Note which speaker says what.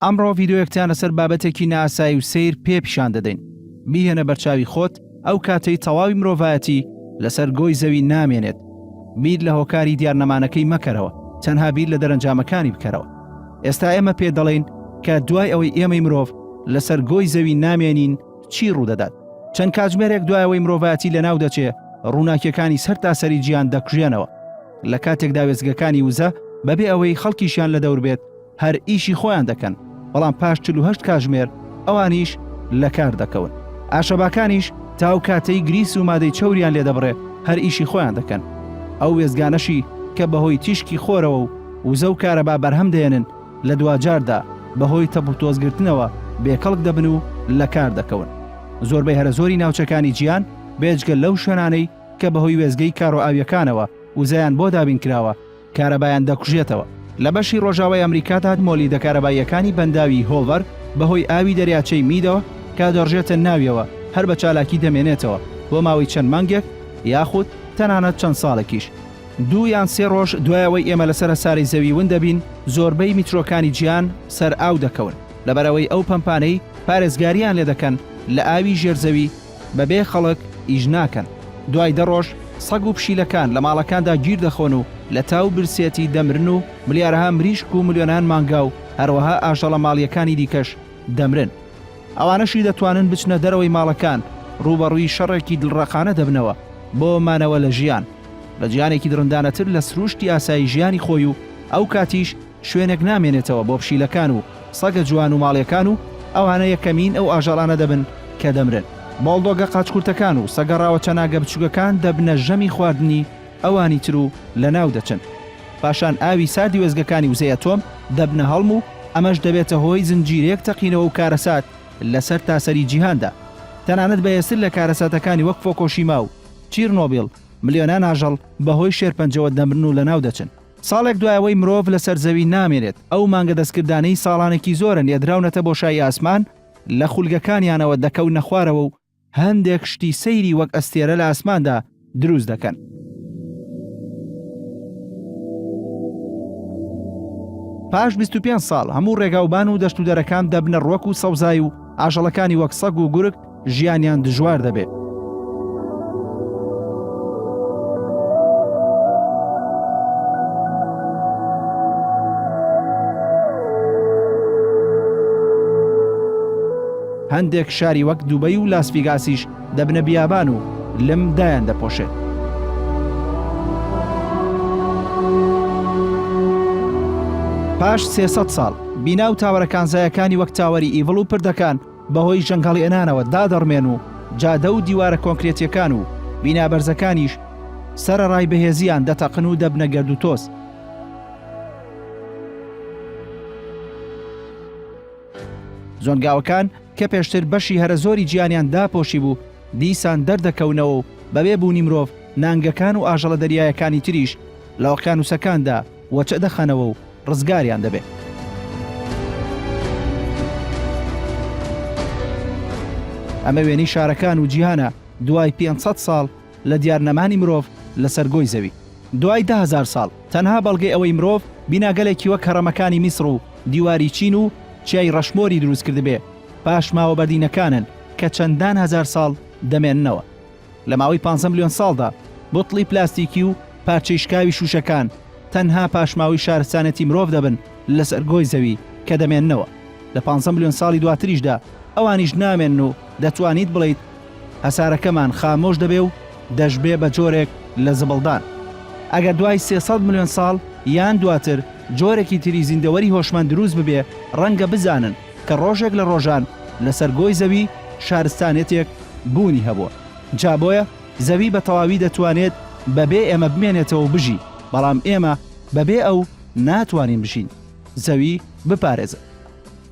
Speaker 1: ئەمڕۆ ڤیدۆیەکتان لەسەر بابەتێکی ناسایی و سیر پێ پیشان دەدەین بیهێنە بەرچاوی خۆت ئەو کاتەی تەواوی مرۆڤایەتی لەسەر گۆی زەوی نامێنێت بیر لە هۆکاری دیار نەمانەکەی مەکەرەوە تەنها بیر لە دەرەنجامەکانی بکەرەوە ئێستا ئێمە پێ دەڵێین کە دوای ئەوەی ئێمەی مرۆڤ لەسەر گۆی زەوی نامێنین چی ڕوودەدات چەند کاتژمێرێک دوایەوەی مرۆڤایەتی لە ناو دەچێ ڕووناکیەکانی سەر تاسەری جیان دەکوژێنەوە لە کاتێکدا وێزگەکانی وزە بەبێ ئەوەی خەڵکیشیان لە دەور بێت هەر ئیشی خۆیان دەکەن، بەڵام پاش چل و هەشت کاژمێر ئەوانیش لە کار دەکەون. ئاشەباکانیش تا ئەو کاتەی گریس و مادەی چەوریان لێ دەبڕێ هەر ئیشی خۆیان دەکەن. ئەو وێستگانەشی کە بە هۆی تیشکی خۆرەوە و وزە و کارەبا بەرهەم دەیەنن لە دواجاردا بە هۆی تەپ و تۆز گرتنەوە بێ کەڵک دەبن و لە کار دەکەون. زۆربەی هەرە زۆری ناوچەکانی جیهان بێجگە لەو شوێنانەی کە بە هۆی وێستگەی کارۆئاوییەکانەوە وزەیان بۆ دابین کراوە، کارەبایان دەکوژێتەوە. لە بەشی ڕۆژاوای ئەمریکا دا مۆلیدە کارەباییەکانی بەنداوی هۆڵڤەر بەهۆی ئاوی دەریاچەی میدەوە کە دەڕژێتە ناویەوە هەر بە چالاکی دەمێنێتەوە بۆ ماوەی چەند مانگێک یاخود تەنانەت چەند ساڵێکیش. دوو یان سێ ڕۆژ دوای ئەوەی ئێمە لەسەر هەسارەی زەوی ون دەبین، زۆربەی میترۆکانی جیهان سەر ئاو دەکەون لەبەر ئەوەی ئەو پەمپانەی پارێزگارییان لێ دەکەن لە ئاوی ژێر زەوی، بەبێ خەڵک ئیش ناکەن. دوای دە ڕۆژ سەگ و پشیلەکان لە ماڵەکاندا گیر دەخۆن و لە تا و برسێتی دەمرن و ملیارەها مریشک و ملیۆنان مانگا و هەروەها ئاژەڵە ماڵییەکانی دیکەش دەمرن. ئەوانەشی دەتوانن بچنە دەرەوەی ماڵەکان، ڕووبەڕووی شەڕێکی دڵڕەقانە دەبنەوە بۆ مانەوە لە ژیان. بە جیهانێکی دڕندانەتر لە سرووشتی ئاسایی ژیانی خۆی و ئەو کاتیش شوێنێک نامێنێتەوە بۆ پشیلەکان و سەگە جوان و ماڵیەکان و ئەوانە یەکەمین ئەو ئاژەڵانە دەبن کە دەمرن. بۆڵدۆگە قاچکورتەکان و سەگە ڕاوەچەناگە بچووکەکان دەبنە ژەمی خواردنی ئەوانی تر و لەناو دەچن. پاشان ئاوی ساردی وێستگەکانی وزەی ئەتۆم دەبنە هەڵم و ئەمەش دەبێتە هۆی زنجیرەیەک تەقینەوە و کارەسات لە سەرتاسەری جیهاندا. تەنانەت بەهێزتر لە کارەساتەکانی وەک فۆکۆشیما و چیرنۆبیڵ، ملیۆنان ئاژەڵ بەهۆی شێرپەنجەوە دەمرن و لەناو دەچن. ساڵێک دوای ئەوەی مرۆڤ لەسەر زەوی نامێنێت، ئەو مانگە دەستکردانەی ساڵانێکی زۆرە نێردراونەتە بۆشایی ئاسمان، لە خولگەکانیانەوە دەکەونە خوارەوە و هەندێک شتی سەیری وەک ئەستێرە لە ئاسماندا دروست دەکەن. پاش بیست و پێنج ساڵ، هەموو ڕێگاوبان و دەشتودەرەکان دەبنە ڕوەک و سەوزایی و ئاژەڵەکانی وەک سەگ و گورگ، ژیانیان دژوار دەبێت. هەندێک شاری وەک دوبەی و لاسڤیگاسیش دەبنە بیابان و لم دایان دەپۆشێت. پاش سێ سەد ساڵ، بینا و تاوەرە کانزایەکانی وەک تاوەری ئیڤڵ و پردەکان، بەهۆی جەنگهەڵێنانەوە دادەڕمێن و جادە و دیوارە کۆنکرێتییەکان و بینا بەرزەکانیش سەرەڕای بەهێزییان دەتەقن و دەبنە گەردوتۆز. زۆنگاوەکان کە پێشتر بەشی هەرە زۆری گیانیان داپۆشی بوو، دیسان دەردەکەونەوە و بەبێ بوونی مرۆڤ، نانگەکان و ئاژەڵە دەریایەکانی تریش لە ئۆقیانووسەکاندا، و چ دەخەنەوە و ڕزگاریان دەبێ. ئەمە وێنەی شارەکان و جیهانە دوای پێنج سەد ساڵ لە دیار نەمانی مرۆڤ لەسەر گۆی زەوی. دوای دە هەزار ساڵ تەنها بەڵگەی ئەوەی مرۆڤ بیناگەلێکی وەک هەڕەمەکانی میسڕ و دیواری چین و چیای ڕەشمۆری دروست کردبێ پاشماوە بەردینەکانن کە چەندان هەزار ساڵ دەمێننەوە. لە ماوەی پانزە ملیۆن ساڵدا بوتڵی پلاستیکی و پارچەی شکاوی شووشەکان تەنها پاشماوەی شارستانێتی مرۆڤ دەبن لەسەر گۆی زەوی کە دەمێننەوە لە پانزە ملیۆن ساڵی دواتریشدا ئەوانیش نامێنن و دەتوانیت بڵێیت هەسارەکەمان خامۆش دەبێ و دەشبێ بە جۆرێک لە زبڵدان ئەگەر دوای سێ سەد ملیۆن ساڵ یان دواتر جۆرێکی تری زیندەوەری هۆشمەند دروست ببێ ڕەنگە بزانن کە ڕۆژێک لە ڕۆژان لەسەر گۆی زەوی شارستانێتێک بوونی هەبووە جا بۆیە زەوی بە تەواوی دەتوانێت بە بێ ئێمە بمێنێتەوەو بژی بەڵام ئێمە بە بێ ئەو ناتوانین بژین زەوی بپارێزن.